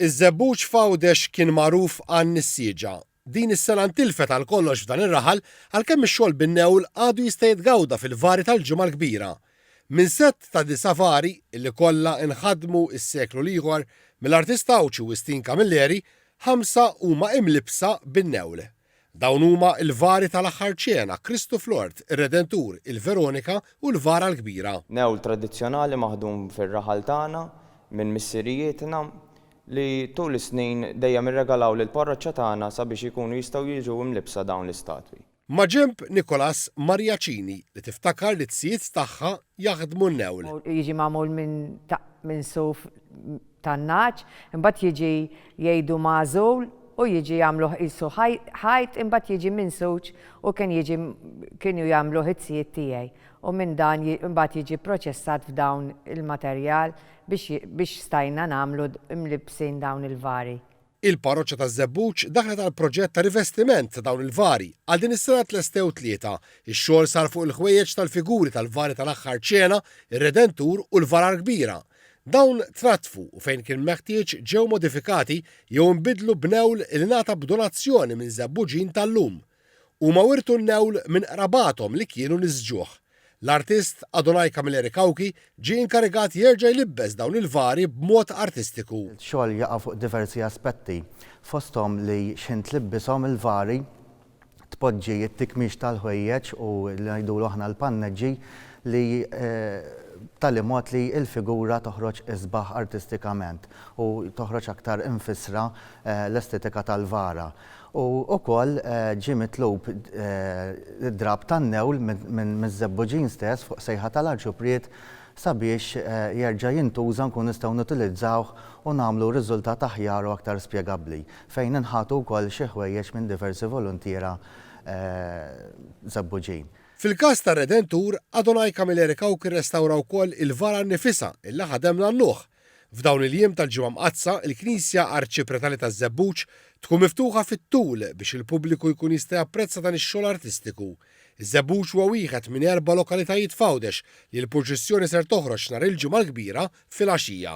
Iż-żebbuġ f'Għawdex kien magħruf għan-nissieġa. Din is-sena ntilfet għal kollox f'dan ir-raħal għalkemm ix-xogħol bin-newl għadu jista' jitgawda fil-vari tal-Ġimgħa l-Kbira. Minn sett ta' disa' vari, li kollha nħadmu s-seklu l-ieħor mill-artist Għawdxi Wistin Camilleri, ħamsa huma imlibbsa bin-newl. Dawn huma l-vari tal-Aħħar Ċena, Kristu fl-Ort, ir-Redentur, il-Veronika u l-Vara l-Kbira. Newl tradizzjonali maħdum fir-raħal tagħna minn missirijietna li tul is-snin dejjem irregalaw lill-parroċċa tagħna sabiex ikunu jistgħu jiġu imlibbsa dawn l-istatwi. Maġenb Nicholas Maria Cini li tiftakar li t-zijiet tagħha jaħdmu n-newl. Jiġi magħmul minn taqq minsuf tan-nagħaġ, imbagħad jiġi jgħidu magħżul u jiġi jagħmluh qisu ħajt imbagħad jiġi minsuġ u kien jiġi kienu jagħmluh it-tzijiet tiegħi u minn dan imbagħad jiġi pproċessat f'dawn il-materjal biex biex stajna nagħmlu mlibbsin dawn il-vari. Il-Parroċċa taż-Żebbuġ daħlet għall-proġett ta' rivestiment ta' dawn il-vari. Għal din is-sena tlestew tlieta. Ix-xogħol sar fuq il-ħwejjeġ tal-figuri tal-vari tal-Aħħar Ċena, ir-Redentur u l-Varar Kbira. Dawn tratfu u fejn kien meħtieġ ġew modifikati jew inbidlu b'newl li ngħata b'donazzjoni minn Żebbuġin tal-lum. Huma wirtu l-lewl minn qrabathom li kienu nies ġuħ. L-artist Adonai Camilleri Cauchi ġie inkarigat jerġa' jlibbes dawn il-vari b'mod artistiku. Ix-xogħol jaqa' fuq diversi aspetti, fosthom li x'ħin tlibbishom il-vari, tpoġġi t-tikmix tal-ħwejjeġ u li ngħidulu aħna l-panneġġi li b'tali mod li l-figura toħroġ isbaħ artistikament u toħroġ aktar imfissra l-estetika tal-vara. U wkoll ġie mitlub id-drapp tan-newl miż-żebbuġin stess fuq sejħa tal-Arċupriet sabiex jerġa' jintuża nkunu nistgħu nutilizzawh u nagħmlu riżultat aħjar u aktar spjegabbli, fejn inħatu wkoll xi ħwejjeġ minn diversi voluntiera żebbuġin. Fil-każ tar-Redentur, Adonai Camilleri Cauchi rrestawra wkoll il-vara nnifisha illi ħadem l-għannuħ, F'dawn il-jiem tal-Ġimgħa Mqaddsa, il-Knisja Arċipretali taż-Żebbuġ tkun miftuħa fit-tul biex il-pubbliku jkun jista' japprezza dan ix-xogħol artistiku. Iż-Żebbuġ huwa wieħed minn erba' lokalitajiet f'Għawdex li l-purċissjoni ser toħroġ nhar il-Ġimgħa l-Kbira filgħaxija.